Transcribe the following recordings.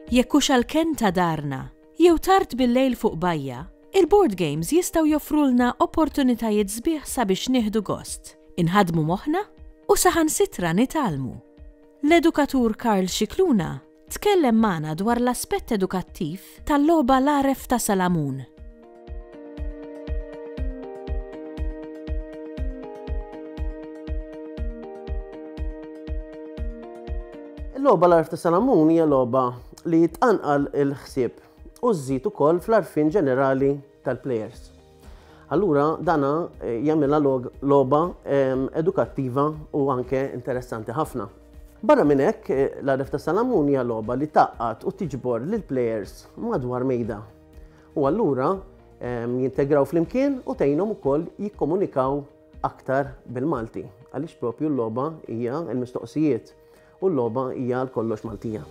Jekk hux għall-kenn ta' darna, jew tard bil-lejl fuq bajja, il-board games jistgħu joffrulna opportunitajiet sbieħ sabiex nieħdu gost, inħadmu moħħna u saħansitra nitgħallmu. L-edukatur Karl Scicluna Tkellem magħna dwar l-aspett edukattiv tal-logħba L-Għaref ta' Salamun. Il-logħba L-Għaref ta' Salamun hija logħba li tqanqal il-ħsieb u żżid ukoll fl-għarfien ġenerali tal-plejers. Allura dana jagħmilha logħba edukattiva u anke interessanti ħafna. Barra minn hekk, l-għaref ta' Salamun hija logħba li taqqat u tiġbor lil plejers madwar mejda. U allura jintegraw flimkien u tgħinhom ukoll jikkomunikaw aktar bil-Malti. Għaliex propju l-logħba hija l-mistoqsijiet. U l-logħba hija għal kollox Maltija.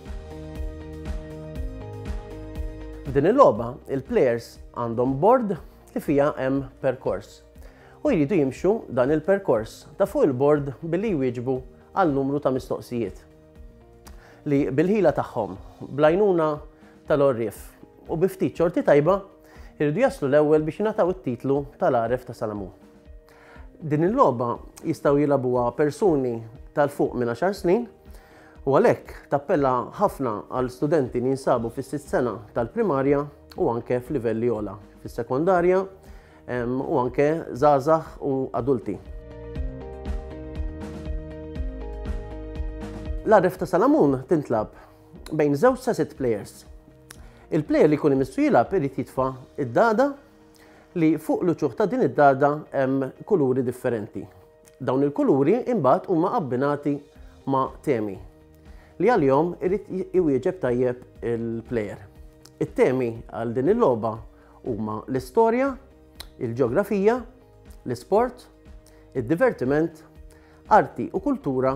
F'din il-logħba, il-plejers għandhom bord li fiha hemm perkors u jridu jimxu dan il-perkors ta' fuq il-bord billi jwieġbu għal numru ta' mistoqsijiet li bil-ħila tagħhom, blajnuna tal-orrif u biftit ċorti tajba, irridu jaslu l-ewwel biex nataw it-titlu tal-għaref ta' Salamun. Din il-logħba jistgħu jilagħbuha persuni tal-fuq minn 10 snin u għalhekk tappella ħafna għal studenti li jinsabu fis-sitt sena tal-primarja u anke f'livelli ola fis-sekondarja u anke zazax u adulti. L-arref ta' Salamun tintlab bejn żewġ sa' sitt players. Il-player li jkun imissu jilab irid jitfa' id-dada li fuq l-uċuħ ta' din id-dagħda hemm kuluri differenti. Dawn il-kuluri imbagħad huma abbinati ma' temi li għalihom irid iwieġeb tajjeb il-plejer. It-temi għal din il-logħba huma l-istorja, il-ġeografija, l-isport, id-divertiment, arti u kultura